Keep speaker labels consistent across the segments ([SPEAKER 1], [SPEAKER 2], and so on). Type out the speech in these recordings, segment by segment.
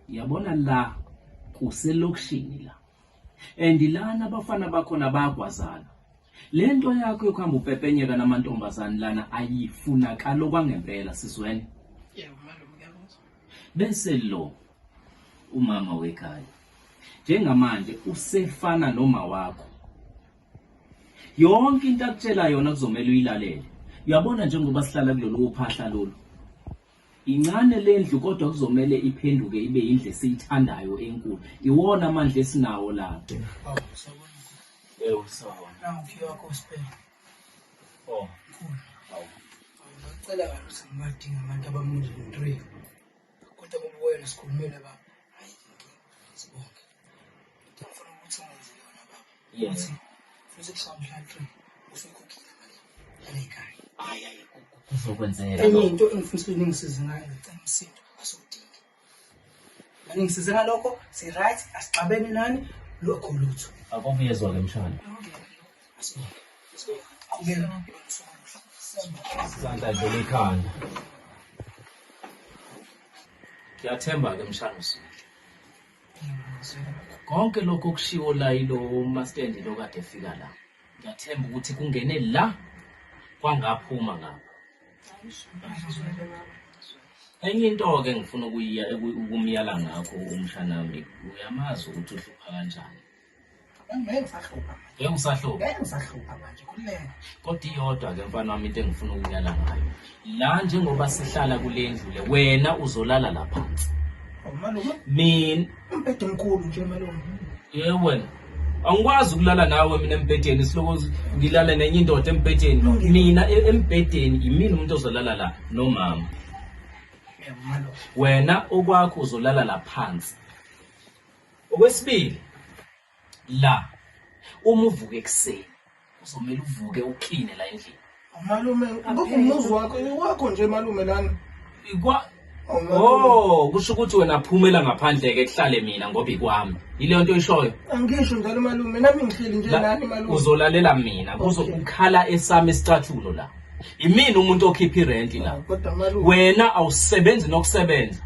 [SPEAKER 1] yabona la kuselokishini la and lana abafana bakhona bayagwazana le nto yakho yokuhamba upepenyeka namantombazane lana ayifunakali okwangempela sizwene
[SPEAKER 2] Bese lo
[SPEAKER 1] umama wekhaya njengamanje usefana noma wakho yonke into akutshela yona kuzomela uyilalele uyabona njengoba sihlala kulolu phahla lolu incane le ndlu kodwa kuzomele iphenduke ibe indlu esiyithandayo enkulu iwona amandla esinawo lapho
[SPEAKER 2] Oh.
[SPEAKER 1] Ngicela
[SPEAKER 2] abantu simadinga abantu abamuzi ngitree. Kodwa kubuye nesikhulumele baba. Hayi inkinga. Sibonke. Ngifuna ukuthi ungenze yona baba. Yes.
[SPEAKER 1] Futhi kusamhla
[SPEAKER 2] tree. Usuyikhokhile mali. Yale ikhaya. Hayi hayi
[SPEAKER 1] kuzokwenzeka. Enye into engifuna
[SPEAKER 2] ukuthi ningisize ngayo ngicela umsindo asudingi. Ngisize ngalokho, si right, asixabene nani, lokho lutho. Akukho uyezwa ke mshana.
[SPEAKER 1] Qhubeka. Sandla dlula ikhanda. Ngiyathemba ke mshana usuku. Konke lokho okushiwo la yilo mastendi lo kade efika la. Ngiyathemba ukuthi kungene la kwangaphuma ngapha. Enye into-ke engifuna ukuyiya ukumyala ngakho umshanami uyamazi ukuthi uhlupha kanjani ngeke ngisahlupha
[SPEAKER 2] ngeke ngisahlupha ngeke ngisahlupha manje kulena kodwa iyodwa
[SPEAKER 1] ke mfana wami into engifuna ukunyala ngayo la njengoba sihlala kule ndlu le wena uzolala la phansi oh,
[SPEAKER 2] mina
[SPEAKER 1] umbhede omkhulu
[SPEAKER 2] nje malume yewe wena
[SPEAKER 1] angikwazi ukulala nawe mina embhedeni siloko ngilale nenye indoda embhedeni mina e- embhedeni yimina umuntu ozolala la nomama
[SPEAKER 2] wena okwakho
[SPEAKER 1] uzolala la phansi okwesibili la uma uvuka ekuseni Uzomele uvuke ukline la endlini. Malume,
[SPEAKER 2] ngoba umuzi wakho iwakho nje malume lana. Ikwa Oh, malume.
[SPEAKER 1] Oh, kusho ukuthi wena phumela ngaphandle ke kuhlale mina ngoba ikwami. Yileyo nto oyishoyo. Angisho njalo malume,
[SPEAKER 2] nami ngihleli nje La- nani malume. Uzolalela mina
[SPEAKER 1] kuzo Okay. ukhala esami isicathulo la. Imina umuntu okhipha irenti la. Kodwa malume. Wena
[SPEAKER 2] awusebenzi
[SPEAKER 1] nokusebenza.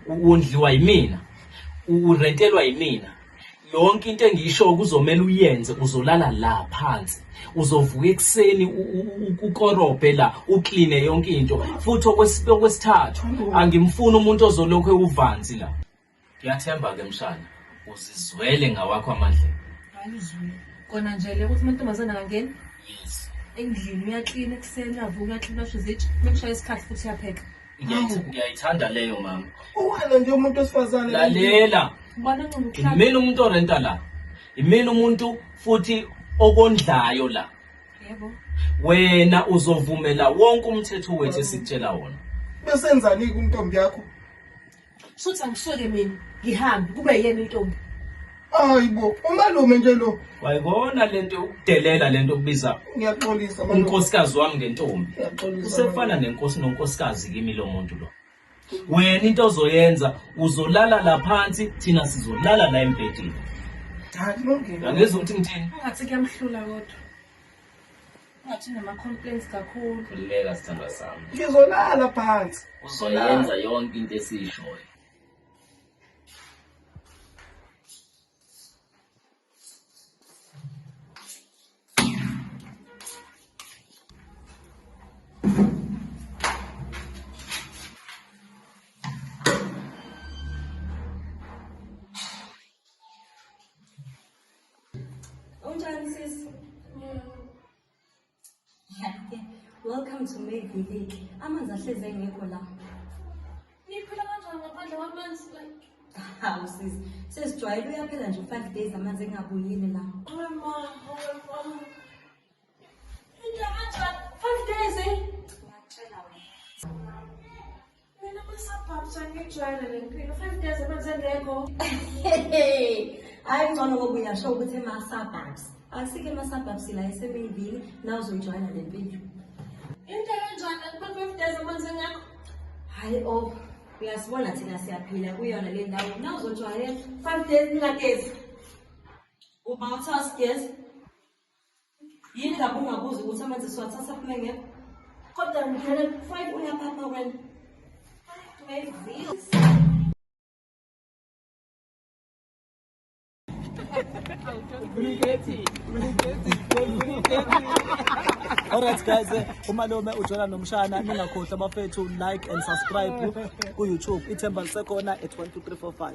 [SPEAKER 1] U- Wondliwa yimina. U- Urentelwa yimina. yonke into engiyishoyo kuzomele uyenze uzolala la phansi uzovuka ekuseni ukorobhe la ukline yonke into futhi okwesithathu angimfuni umuntu ozolokhu ewuvanzi la ngiyathemba-ke mshana uzizwele ngawakho amadlela
[SPEAKER 3] kona nje le ukuthi amantombazane angangeni yes
[SPEAKER 1] endlini
[SPEAKER 3] uyaklina ekuseni uyavuka uyaklina usho izitsha uma kushaya isikhathi futhi uyapheka ngiyayithanda
[SPEAKER 1] leyo mama uwena nje umuntu
[SPEAKER 2] wesifazane lalela
[SPEAKER 3] imina umuntu orenta la
[SPEAKER 1] imina umuntu futhi okondlayo la yebo
[SPEAKER 3] wena
[SPEAKER 1] uzovumela wonke umthetho wethu esitshela wona besenzani
[SPEAKER 2] kuntombi yakho Shuthi
[SPEAKER 3] angisuke mina ngihambe kube yena intombi. Hayibo,
[SPEAKER 2] umalume nje lo. Wayibona lento
[SPEAKER 1] yokudelela lento okubiza Ngiyaxolisa malume.
[SPEAKER 2] unkosikazi wami ngentombi.
[SPEAKER 1] Ngiyaxolisa. Usefana
[SPEAKER 2] nenkosi
[SPEAKER 1] nonkosikazi kimi lo muntu lo. Wena into ozoyenza uzolala la phansi thina sizolala la embhedeni. Cha
[SPEAKER 2] kulungile. Angizwa ukuthi ngithini.
[SPEAKER 1] Ungathi kuyamhlula
[SPEAKER 3] kodwa. Ngathi unama-complaints kakhulu. Khululeka sithandwa
[SPEAKER 1] sami. Ngizolala phansi.
[SPEAKER 2] Uzoyenza yonke
[SPEAKER 1] into esiyishoyo.
[SPEAKER 4] Unjani sis? Welcome to May Village. Amanzi ahlezi engekho la. Niphila
[SPEAKER 3] kanjani ngaphandle kwamanzi like? Hawu sis,
[SPEAKER 4] sesijwayele uyaphela nje 5 days amanzi engabuyile la. Mama, mama.
[SPEAKER 3] hayi
[SPEAKER 4] ngcono ngoba uyasho ukuthi ema-suburbs akusike ema-suburbs la esemeyivini nawuzoyijwayela le mpilo into
[SPEAKER 3] enjani kubantu days amanzi engakho hayi o
[SPEAKER 4] oh, uyasibona thina siyaphila kuyona le ndawo nawuzojwayela five days ngingagezi uba uthi asigezi yini ngabe ungabuzi
[SPEAKER 5] ukuthi amanzi siwathatha kume ngekho kodwa ngithele five uyaphapha wena Alright guys, eh, umalume ujola nomshana ningakhohlwa abafethu like and subscribe ku YouTube. Ithemba lisekhona at 12345.